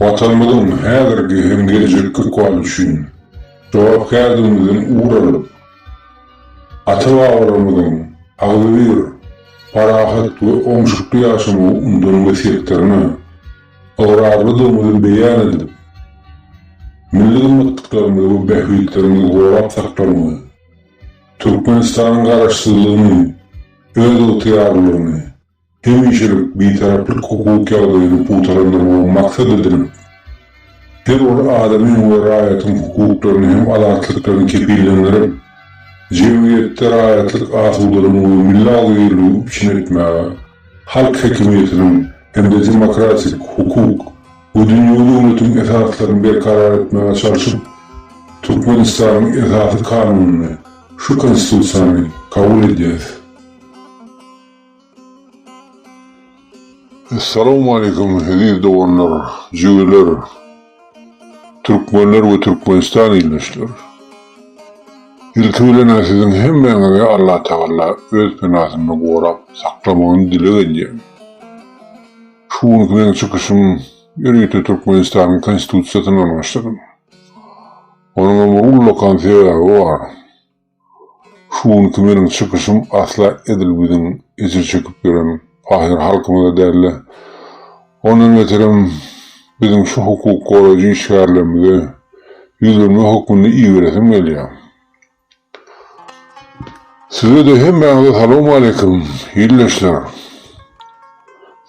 Watanymyzyň häzirki hem gelejekki ykbaly üçin jogapkärdigimizden ugur alyp, ata-babalarymyzyň agzybir, parahat we oňşukly ýaşamagy undan wesýetlerine ygrarlydygymyzy beýan edip, milli gymmatlyklarymyzy we bähbitlerimizi gorap saklamagy, Türkmenistanyň Garaşsyzlygyny, özygtyýarlylygyny, hemişelik Bitaraplyk hukuk ýagdaýyny pugtalandyrmagy maksat edinip, her bir adamyň we raýatyň hukuklaryny hem azatlyklaryny kepillendirip, jemgyýetde raýatlyk asudalygyny we milli agzybirligi üpjün etmäge, halk häkimiýetiniň hem-de demokratik, hukuk we dünýewi döwletiň esaslaryny berkarar etmäge çalşyp, Türkmenistanyň Esasy Kanunyny, şu Konstitusiýany, kabul edýäris. Essalawmaleýkum eziz doganlar, jübüler, türkmenler we türkmenistan ildeşler. Ilki bilen-ä siziň hemmäňizi Allatagala öz penasynda gorap saklamagyny dileg edýän. Şu günki meň çykyşym ýörite Türkmenistanyň Konstitusiýasyny algyşladym. Onuňam bir ullakan sebäbi bar. Şu günki meniň çykyşym asla edil biziň ejir çekip ýören pahyr halkymyza däl-de, ondan beterem biziň şu hukuk goraýjy işgärlerimize ýüzlenme hökmünde iberesim gelýär. Size-de hemmäňize salowmaleýkim, ildeşler!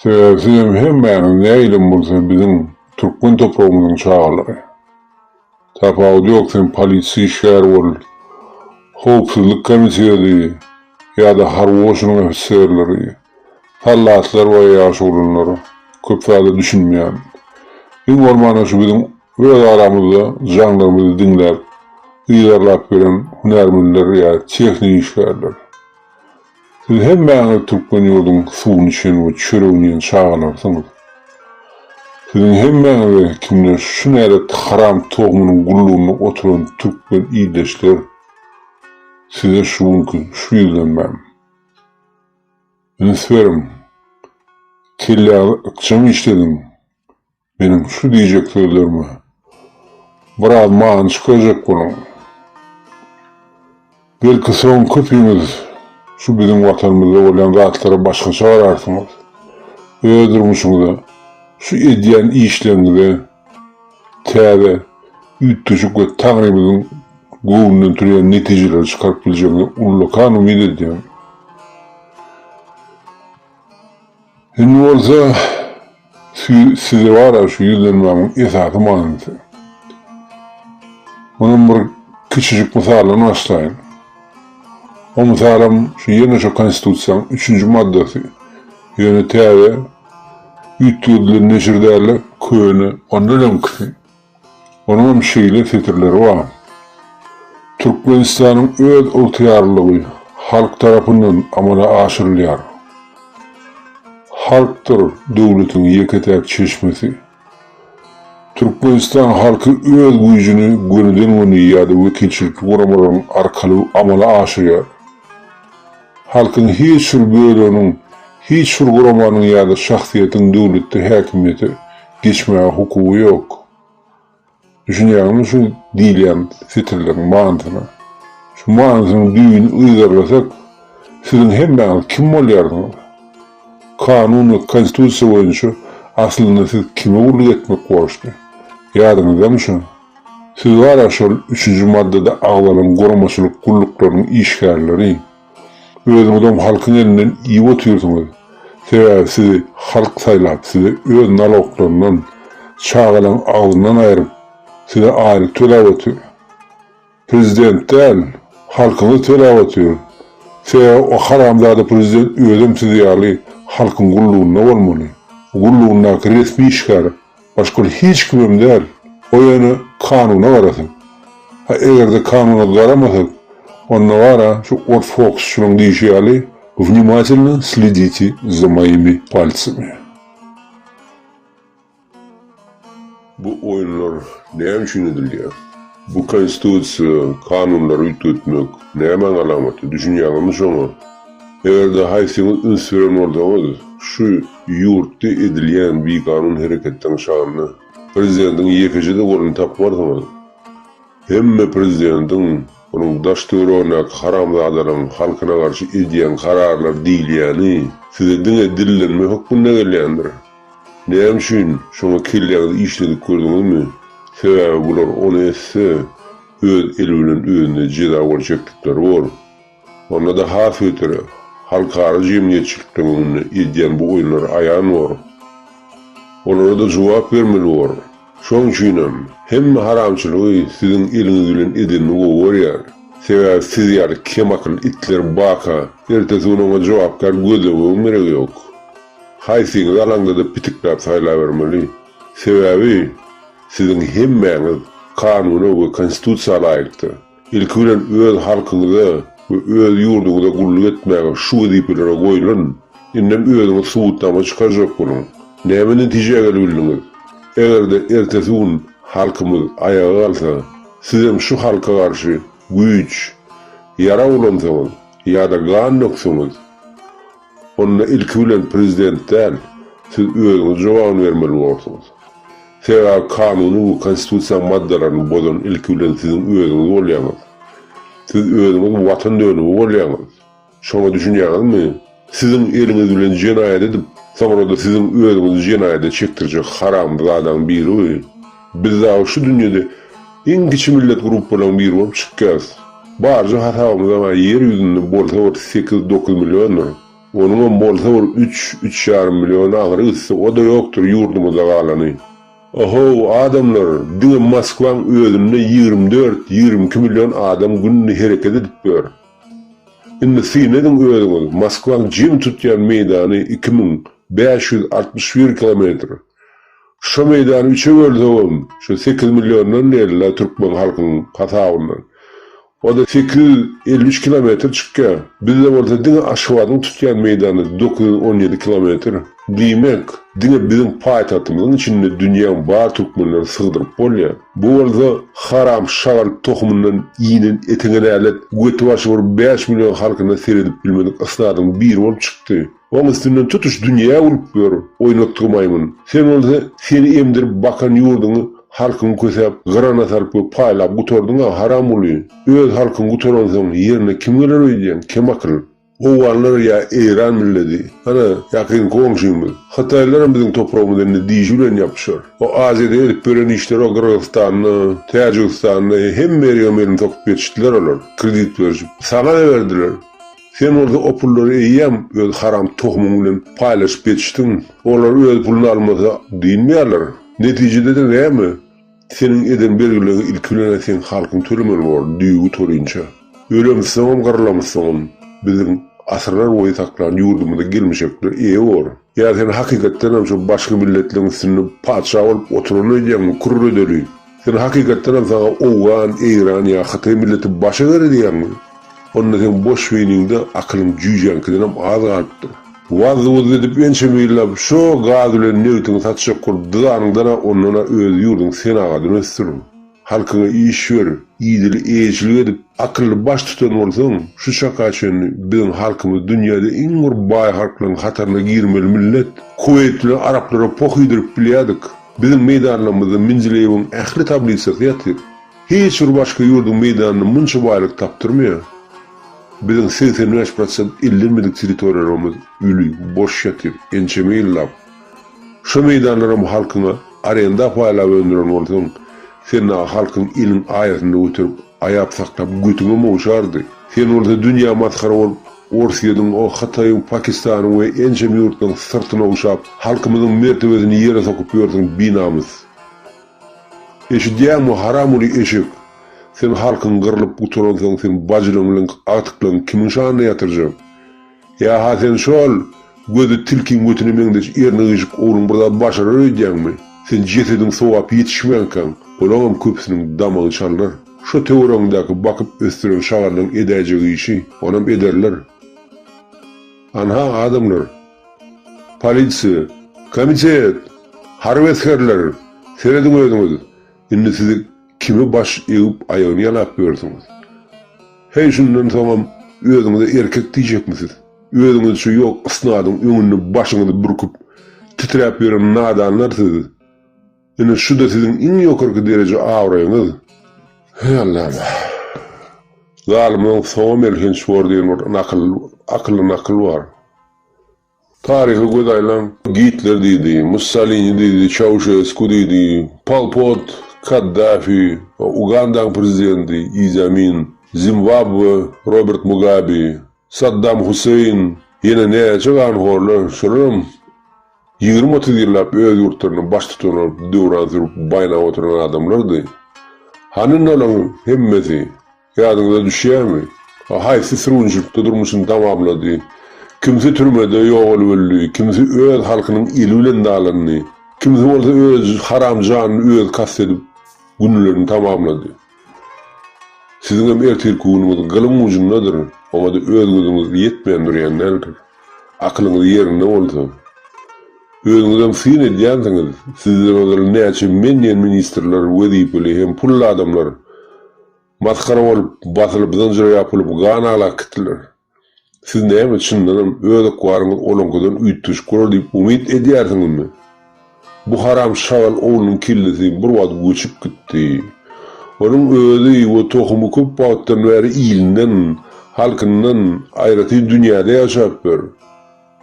Sebäbi sizem hemmäňiz nähilem bolsa biziň türkmen topragymyzyň çagalary. Tapawudy ýok sen polisiýa işgäri bol, howpsuzlyk komitedi ýa-da harby goşunyň ofiserleri, sallatlar we ýaş oglanlar köp zada düşünmeýän. Iň bolmanda şu biziň öz aramyzda jaňlarymyzy diňläp yzarlap gelen hünärmenler ýa tehniki işgärler. Siz hemmäňiz türkmen ýurduň suwuny içen we çöregini iýen çagalarsyňyz. Siziň hemmäňize kimden şu nälet haram togumynyň gullugynda oturan türkmen ildeşler, size şu günki şu ýüzlenmäm. Üns beriň, kelläňizi ykjam işlediň, Meniň şu diýjek sözlerime biraz many çykarjak boluň. Belki soň köpüňiz şu biziň Watanymyzda bolýan zatlara başgaça gararsyňyz. Öz durmuşyňyza, şu edýän işleriňize täze üýtgeşik we Taňrymyzyň göwnünden turýan netijeleri çykaryp biljegiňize ullakan umyt edýän. Indi bolsa, Size bara şu ýüzlenmämiň esasy manysy. Munam bir kiçijik mysaldan başlaýyn. O mysalam şu ýene şu konstitusiýaň üçünji maddasy. Ýöne täze üýtgedilen neşir dälde köne. Ondan öňkisi. Onuňam şeýle setirleri bar, Türkmenistanyň öz ygtyýarlylygy halk tarapyndan amala aşyrylýar. Halkdyr döwletiň ýeke-täk çeşmesi. Türkmenistan halky öz güýjüni gönüden-göni ýa-da wekilçilikli guramalaryň arkaly amala aşyrýar. Halkyň hiç bir böleginiň, hiç bir guramanyň ýa-da şahsyýetiň döwletde häkimiýete geçmäge hukugy ýok. Düşünýäňizmi şu diýilýän setirleriň manysyna? Şu manysynyň düýbüni yzarlasak, siziň hemmäňiz kim bolýarsyňyz? Kanun we Konstitusiýa boýunça aslynda siz kime gulluk etmek borçly? Ýadyňyzdamy şu Siz gara şol üçünji maddada agzalan guramaçylyk gulluklarynyň işgärleri, özüňizem halkyň elinden iýip otyrsyňyz, sebäbi sizi halk saýlap size öz naloglaryndan, çagalaň agzyndan aýryp size aýlyk töläp otyr. Prezident däl, halkyňyz telap otyr. Sebäbi o haramzada prezident özem siz ýaly halkyň gullugynda bolmaly. O gullugyndaky resmi işgär, başga hiç kimem däl. O ýöne kanuna garasyn. Ha egerde kanuna garamasak, onda gara şu ors fokusçynyň diýşi ýaly, Vnimatelno sliditi za moimi palcimi. Bu oýunlar näme üçin edilýär? Bu konstitusiýa, kanunlary üýtgetmek, nämäň alamaty, düşünýäňizmi şoňa? Eger-de haýsyňyz üns beren bolsaňyz, şu ýurtda edilýän biganun hereketleriň şanyna prezidentiň ýekeje-de goluny tapmarsyňyz. Hemme prezidentiň, onuň daş-töweregindäki haramzadalaryň halkyna garşy edýän kararlary diýilýäni size diňe dillenme hökmünde gelýändir. Näme üçin şoňa kelläňizi işledip gördüňizmi? Sebäbi bular ony etse, öz eli bilen özüne jeza bolup çekdikleri bor. Onda-da has beteri, halkara jemgyýetçilikden öňünde edýän bu oýunlary aýan bor. Olara-da jogap bermeli bor. Şoň üçinem, hemme haramçylygy siziň eliňiz bilen edenini gowy görýär. Sebäbi siz ýaly kemakyl itler baka, ertesi gün oňa jogapkär gözlemegiň geregi ýok. Haýsyňyz alaňda-da pitikläp saýlabermeli. Sebäbi siziň hemmäňiz kanuna we konstitusiýa laýykda, ilki bilen öz halkyňyza we öz ýurduňyza gulluk etmäge şu wezipelere goýlan, indem özüňiz subutnama çykarjak boluň. Näme netijä gelebildiňiz? Eger-de ertesi gün halkymyz aýaga galsa, sizem şu halka garşy güýç, ýarag ulansaňyz ýa-da gan dökseňiz, Onda ilki bilen prezident däl, siz özüňiz jogabyny bermeli bolarsyňyz. Sebäbi kanunyň we konstitusiýaň maddalaryny bozan ilki bilen siziň özüňiz bolýaňyz. Siz özüňiz watan dönügi bolýaňyz. Şoňa düşünýäňizmi? Siziň eliňiz bilen jenaýat edip, soňra-da siziň özüňizi jenaýada çekdirjek haramzadaň biri bu. Biz dagy şu dünýede iň kiçi millet gruppalaryň biri bolup çykýarys. Barja hasabymyzam-a ýer ýüzünde bolsa bir sekiz-dokuz milliondyr. Onuňam bolsa bir üç, üç ýarym milliony agyry gitse, o-da ýokdur ýurdumyzda galany. Ohow, adamlar, diňe Moskwaň özünde ýigrimi dört, ýigrimi iki million adam günde hereket edip ýör. Indi syn ediň özüňiz, Moskwaň jemi tutýan meýdany iki müň bäş ýüz altmyş bir kilometr. Şu meýdany üçe bölsegem, şu sekiz milliondan diýeli-le türkmen halkynyň hasabyndan. O-da sekiz ýüz elli üç kilometr çykýar. Bizde bolsa diňe Aşgabadyň tutýan meýdany dokuz ýüz on ýedi kilometr. Diýmek, diňe biziň paýtagtymyzyň içinde dünýäň bar türkmenlerini sygdyryp bolýar. Bu bolsa haram şagal tohumyndan iýnen eteňe nälet, göti-başy bir bäş million halkyna seredip bilmedik ysradyň biri bolup çykdy. Oň üstünden tutuş dünýä gülüp ýör, oýnatgy maýmyn. Sen bolsa seni emdirip bakan ýurduňy halkyňy kösäp, gyrana salyp we paýlap gutardyň-a, haramguly! Öz halkyň gutaransoň, ýerine kim geler öýdýäň, kemakyl? Owganlar ýa eýran milleti? Ana, ýakyn goňşymyz, hytaýlaram biziň topragymyza indi dişi bilen ýapyşar. O Aziýada edip ýören işleri o Gyrgyzystanda, Täjigistanda, hemme ýerigem elini sokup ýetişdiler olar, kredit berişip. Saňa-da berdiler. Sen bolsa o pullary eýýäm öz haram tohumyň bilen paýlaşyp geçişdiň. Olar öz puluny almasa dynmaýarlar. Netijede-de näme? Seniň eden bergileriňi ilki bilen-ä seň halkyň tölemeli bor, düýbi torynça. Ölemsoňam, gyrylamsoňam biziň asyrlarboýy saklan ýurdumyza gelmişekler eýe bor. Ýa sen hakykatdan hem şo başga milletleriň üstünde patyşa bolup oturany öýdýäňmi, kürredeli? Sen hakykatdan hem saňa owgan, eýran ýa hytaý milleti baş eger edýäňmi? Onda seň boş beýniňde akylyň jüýjäňkidenem az galypdyr. Wazzy-wuzzzy edip ençeme ýyllap şo gaz bilen nebtiňi satjak bolup dyzanyňda-da ondan-a öz ýurduň senagadyny ösdür. Halkyňa iş ber, idil eýeçilik edip, akylly baştutan bolsaň, şu çaka çenli biziň halkymyz dünýäde iň bir baý halklaryň hataryna girmeli millet. Kuweýt bilen araplara poh iýdirip bilýärdik. Biziň meýdanlarymyzda Mendileýewiň ähli tablisasy ýatyr. Hiç bir başga ýurduň meýdanynda munça baýlyk tapdyrmaýar. Biziň segsen bäş prosent ellenmedik territoriýalarymyz öli, boş ýatyr, ençeme ýyllap. Şo meýdanlaram halkyňa arenda paýlap öndüren bolsaň, sen dagy halkyň iliň aýasynda göterip, aýap saklap götüňe mowşardy. Sen bolsa dünýä masgara bolup, Orsýetiň, o Hytaýyň, Pakistanyň we ençem ýurtlaryň syrtyna ogşap, halkymyzyň mertebesini ýere sokup ýörsüň, binamys. Eşidýäňmi, haramuly eşek! Sen halkyň gyrlyp gutaransoň, seň bajylaň bilen agtyklaň kimiň şanyna ýatyrjak? Ýa-ha sen şo-ol gözi tilkiň götüne meňzeş erni-gyjyk ogluň bir zat başarar öýdýäňmi? Sen jesediň sogap ýetişmänkäň, olaňam köpüsiniň damagy çalynar. Şo töweregiňdäki bakyp ösdüren şagallyň edäýjek işi, onam ederler. Anha, adamlar! Polisiýa! Komitet! Harby esgerler! Serediň özüňiz! Indi siz kime baş egip aýagyny ýalap ýörsiňiz? Heý şundan soňam özüňize erkek diýjekmisiz? Özüňiz şu ýok ysnadyň öňünde başyňyzy bürküp, titräp ýören nadanlar siz. Ine şu-da siziň iň ýokarky dereje abraýyňyz. Heý Allam! Zalymlaň soňam elhenç bor diýen bir nakyl, akylly nakyl bar. Taryha göz aýlaň, Gitler diýdi, Mussolini diýdi, Çauşesku diýdi, Pol Pot, Kaddafi, Ugandaň prezidenti Idi Amin, Zimbabwe, Robert Mugabe, Saddam Huseýn, ýene näçe ganhorlar, şolaram ýigrimi-otuz ýyllap öz ýurtlaryna baştutan bolup döwran sürüp baýnap oturan adamlardy. Hany nolaň hemmesi? Ýadyňyza düşýärmi? A haýsy sürgünçilikde durmuşyny tamamlady? Kimsi türmede ýogalyp öldi, kimsi öz halkynyň eli bilen dalandy, kimsi bolsa öz haram janyny özi kast edip, günlerini tamamlady. Siziňem ertirki günüňiz gylyň ujundadyr, oňa-da özgüziňiz ýetmän durýan däldir. Akylyňyz ýerinde bolsa. Özüňizem syn edýänsiňiz, sizden ozal näçe men diýen ministrler, wezipeli hem pully adamlar Masgara bolup, basylyp, zynjyra ýapylyp, gan aglak gitdiler. Siz näme, çyndanam, öz ykbalyňyz olaňkydan üýtgeşik bolar diýip umyt edýärsiňizmi? Bu haram şagal oglunyň kellesi bir wagt göçüp gitdi. Onuň özi we tohumy köp wagtdan bäri ilinden, halkyndan aýratyn dünýäde ýaşapdyr.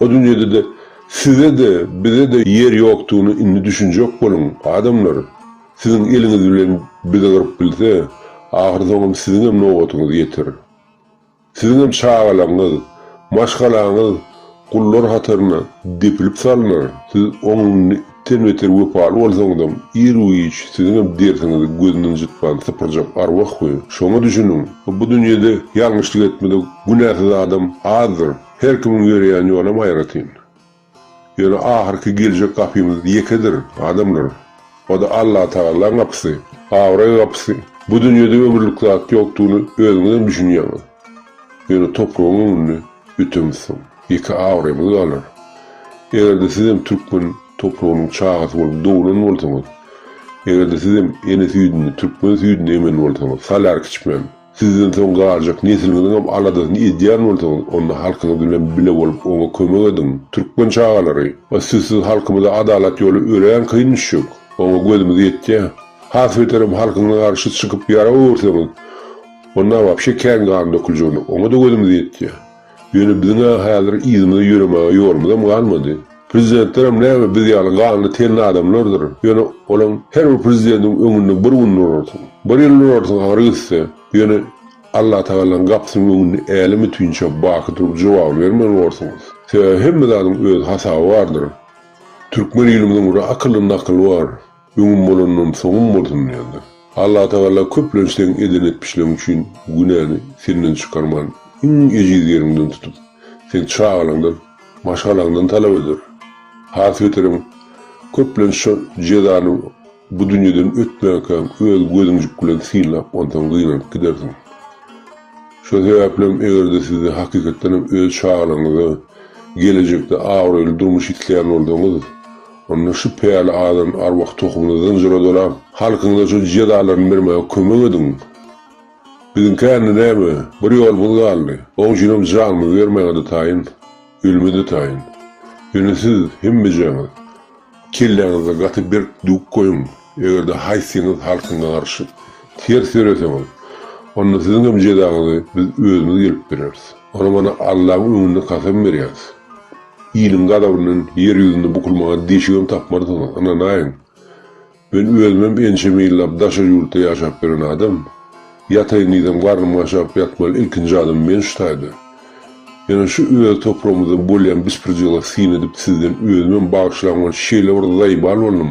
Bu dünýede-de size-de, bize-de ýer ýokdugyna indi düşünjek boluň, adamlar! Siziň eliňiz bilen bizi gyryp bilse, ahyrsoňam siziňem nobatyňyz ýeter. Siziňem çagalaryňyz, maşgalaňyz gullar hataryna depilip salnar, siz ondan-den beter wepaly bolsaňyzam, ir-giç siziňem dersiňizi gözünden jytman sypyrjak arwah we şoňa düşüniň! Bu dünýede ýalňyşlyk etmedik, günäsiz adam azdyr. Her kimiň ýöreýän ýolam aýratyn. Ýöne ahyrky geljek gapymyz ýekedir, adamlar. O-da Allatagalaň gapysy, abraý gapysy. Bu dünýede ömürlik zat ýokdugyny özüňizem düşünýäňiz. Ýöne topragyň öňünde ötemizsoň, ýeke abraýymyz galar. Eger-de sizem türkmen topragynyň çagasy bolup doglan bolsaňyz, eger-de sizem ene süýdüni, türkmen süýdüni emen bolsaňyz, salar kiçmem. Sizden soň galjak nesliňiziňem aladasyny edýän bolsaňyz, onda halkyňyz bilen bile bolup oňa kömek ediň. Türkmen çagalary, o sizsiz halkymyza adalat ýoly örän kyn düşjek. Oňa gözümiz ýetýär. Has beterem halkyňyza garşy çykyp ýara öwürseňiz, onda wapşe kän gan döküljegine, oňa-da gözümiz ýetýär. Ýöne biziň-ä häzir yzymyza ýöremäge ýolumyzam galmady. Prezidentlerem näme biz ýaly ganly tenli adamlardyr. Ýöne olaň her bir prezidentiň öňünde bir gün durarsyň. Bir ýyl durarsyň agyry gitse. Ýöne Allatagalaň gapysynyň öňünde älem-ütinçä baky durup jogap bermeli bolarsyňyz. Sebäbi hemme zadyň öz hasaby bardyr. Türkmen ilimiziň bir akyllynda akyl bar. Öňüm bolandan soňum bolsun diýendir. Allatagala köplenç seň eden etmişleň üçin günäni senden çykarman iň ejiz ýeriňden tutup seň çagalaňdan, maşgalaňdan talap eder. Has beterem köplenç şo jezany bu dünýeden ötmänkäň öz gözüňjik bilen synlap onsaň gynanyp gidersiň. Şo sebäplem egerde sizi hakykatdanam öz çagalaňyza gelejekde abraýly durmuş isleýän bolsaňyz, Onda şu päli adam arwah tohumyny zynjyradala, halkyňyza şu cüce dalaryny bermäge kömek ediň. Biziňki ände näme, bir ýolumyz galdy, oň üçinem janymyzy bermäge-de taýyn, ölüme-de taýyn. Ýöne siz hemmejaňyz kelläňizde gaty berk düwüp goýuň. Eger-de haýsyňyz halkyňa garşy ters ýöreseňiz, onda siziň hem jezaňyzy biz özümiz gelip bereris. Ony mana Allaň öňünde kasam berýäris. Iliň gazabyndan ýer ýüzünde bukulmaga deşigem tapmarsyňyz, ynanaýyň. Men özümem ençeme ýyllap daşary ýurtda ýaşap ýören adam. Ýataýyn diýsem, garnym gaşap ýatmaly ilkinji adam men şu taýda. Ýöne şu öz topragymyzda bolýan bispirjigla syn edip sizden özümem bagyşlaň we şeýle bir zaýbal boldum.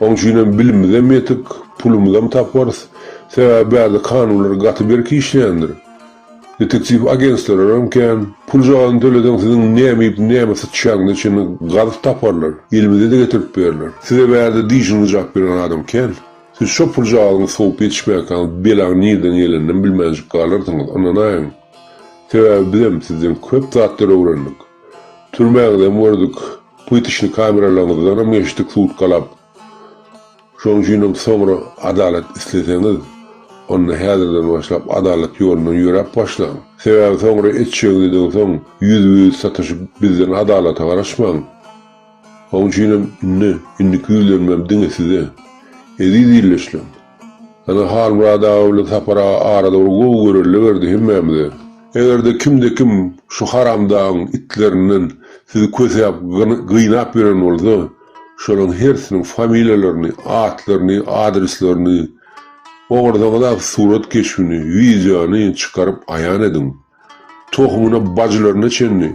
Oň üçinem bilimizem ýetik, pulumyzam taparys. Sebäbi bärde kanunlar gaty berk işleýändir. Detektiw agenstwlaram kän. Puljagazyny töleseň siziň näme iýip, näme syçýanyňyzy çenli gazyp taparlar. Elimize-de getirip berler. Size bärde diýşiňizi jap beren adam kän. Siz şo puljagazyňy sowup ýetişmäkäňiz belaň nirden geleninem bilmänjik galarsyňyz, ynanaýyň. Sebäbi bizem sizden köp zatlar öwrendik. Türmäňizem gördük. Pytyşyny kameralaryňyzdanam geçdik sutkalap. Şonuň üçinem soňra adalat isleseňiz, onda häzirden başlap adalat ýolundan ýöräp başlaň. Sebäbi soňra etjegiňizden soň ýüzbe-ýüz sataşyp bizden adalata garaşmaň. Oň üçinem indi, indiki ýüzlenmem diňe size. Eziz ildeşlerim! Ýöne Halmyrat aga bilen Sapar aga arada bir gowy görelde berdi hemmämize. Eger-de kimde-kim şu haramdagyň itlerinden sizi kösäp, gynap ýören bolsa, şolaryň hersiniň familiýalaryny, atlaryny, adreslerini, ogursaňyzam surat keşbini, wideony çykaryp aýan ediň. Tohumyna bajylaryna çenli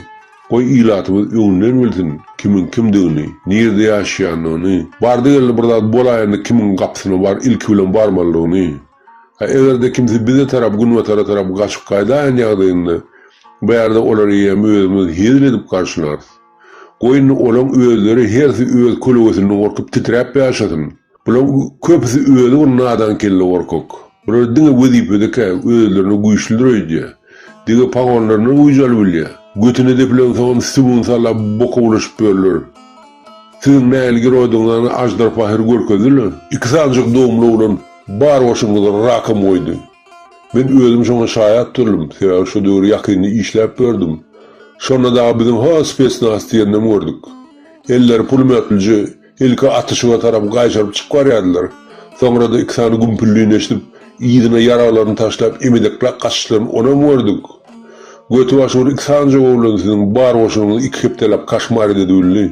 goý ilatymyz öňünden bilsin kimiň kimdigini, nirde ýaşaýanyny, bardy geldi bir zat bolaýanda kimiň gapysyna bar ilki bilen barmalydygyny. Ha egerde kimsi bize tarap günbatara tarap gaçyp gaýdaýan ýagdaýynda bu ýerde olary ýem özümiz hezil edip garşylarys. Goý indi olaň özleri hersi öz kölgesinden gorkup titräp ýaşasyn. Bulaň köpüsi özi bir nadan kelle gorkak. Bular diňe wezipedekä özlerine güýçlidir öýdýä. Dege pagonlaryndan güýjal bilýä. Götüne depilensoňam süňňüň sala boka bulaşyp börüler. Siziň nähili giroýdygyňyzany Aždarpahyr görkezdi-le. Iki sanjyk dogumly oglan bar goşunyňyzy rakam goýdy. Men özüm şoňa şaýat durdum, sebäbi şo döwür ýakynda işläp ýördüm. Şonda dagy biziň has spesnaz diýenem gördük. Elleri pulemýotlije ilki atyşyga tarap gaýşaryp çykyp barýardylar, soňra-da iki sany gümpüldini eşidip, yzyna ýaraglaryny taşlap emedekläp gaçyşlaryny onam gördük. Göti-başy bir iki sanjag oglan siziň bar goşunyňyzy iki hepdeläp kaşmar ededi bildi.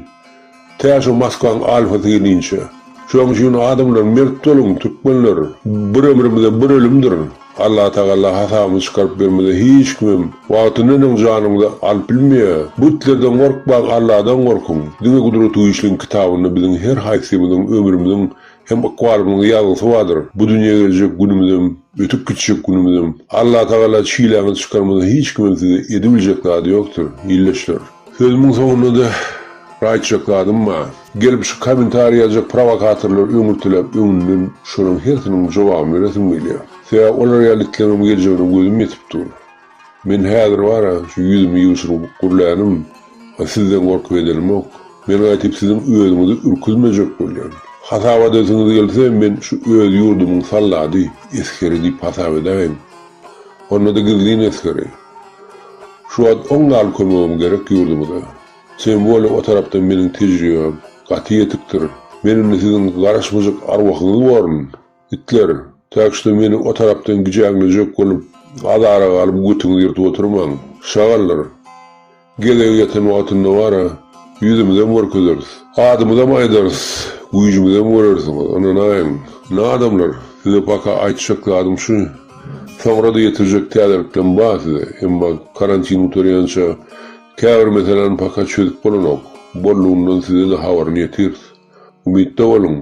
Tä şu Moskwaň alfasy gelinçe. Şoň üçin adamlar mert boluň, türkmenler! Bir ömrümize bir ölümdir. Allatagalla hasabyny çykaryp bermese hiç kimem wagtyndanyň janyňyzy alyp bilmeýär. Butlerden gorkmaň Alladan gorkuň. Diňe Gudratygüýçliň kitabynda biziň her haýsymyzyň ömrümiziň Hem ykbalymyzyň ýazgysy bardyr. Bu dünýä geljek günümizem, ötüp gitjek günümizem. Allatagala çiläňizi çykarmasa hiç kimiň size edibiljek zady ýokdur, ildeşler. Sözümiň soňundada bir aýtjak zadym bar. Gelip şu komentariý ýazjak prowokatorlar öňürtiläp öňünden şolaryň hersiniň jogabyny beresim gelýär. Sebäbi olar ýaly itleňem geljegine gözüm ýetip dur. Men häzir bara şu ýüzümi ýuwşuryp gürlänim, a sizden gorkyp edenimok. Men gaýtyp siziň özüňizi ürküzmejek bolýan. Hasap adesiňiz gelse, men şu öz ýurdumyň sallady, esgeri diýip hasap edäýin. Onda-da gizlin esgeri. Şu wagt oň gal kömegim gerek ýurdumyza. Tem bolýa o tarapdan meniň tejribem gaty ýetikdir. Men indi siziň garaşmajak arwahyňyz borun. Itler, täşli meni o tarapdan gijäňlejek bolup, azara galyp götüňizi ýyrtyp oturmaň. Şagallar! Gezegi ýeten wagtynda bar-a, ýüzümizem görkezeris. Adymyzam aýdarys, güýjümizem görersiňiz, ynanaýyň. Nä adamlar, size paka aýtjak zadym şu, soňra-da ýetirjek täzeliklem bar size, emma karantin gutarýança käbir meseläni paka çözüp bolanok, boldugyndan size-de habaryny ýetiris. Umytda boluň.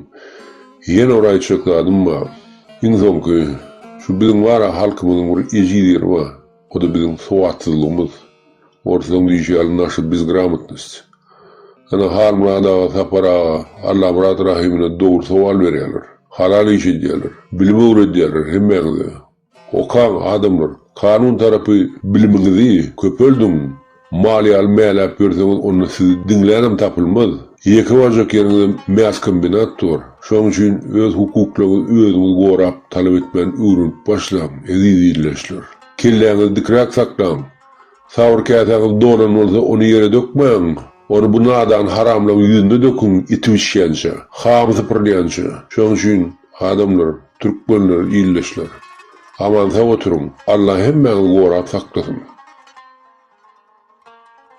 Ýene bir aýtjak zadym bar. Iň soňky, şu biziň bar-a halkymyzyň bir ejiz ýeri bar. O-da biziň sowatsyzlygymyz. Orslaň diýşi ýaly naşy bezgramotnost. Ana Halmyrat aga, Sapar aga, Allamyrat Rahymyna dogry sowal berýärler. Halal iş edýärler. Bilim öwredýärler hemmäňize. Okaň adamlar, kanun tarapy bilimiňizi köpeldiň, maliýaly mäläp berseňiz onda sizi diňlänem tapylmaz, ýeke barjak ýeriňizem mäskombinat dur, şoň üçin öz hukuklaňyzy özüňiz gorap talap etmän öwrenip başlaň, eziz ildeşler. Kelläňizi dikräk saklaň. Sawur käsäňiz dolan bolsa, ony ýere dökmäň. Ony bu nadan haramlaryň ýüzüne döküň, iti bişýänçä, hamy sypyrylýança. Şonuň üçin, adamlar, türkmenler, ildeşler! Aman-sag oturyň! Alla hemmäňizi gorap saklasyn!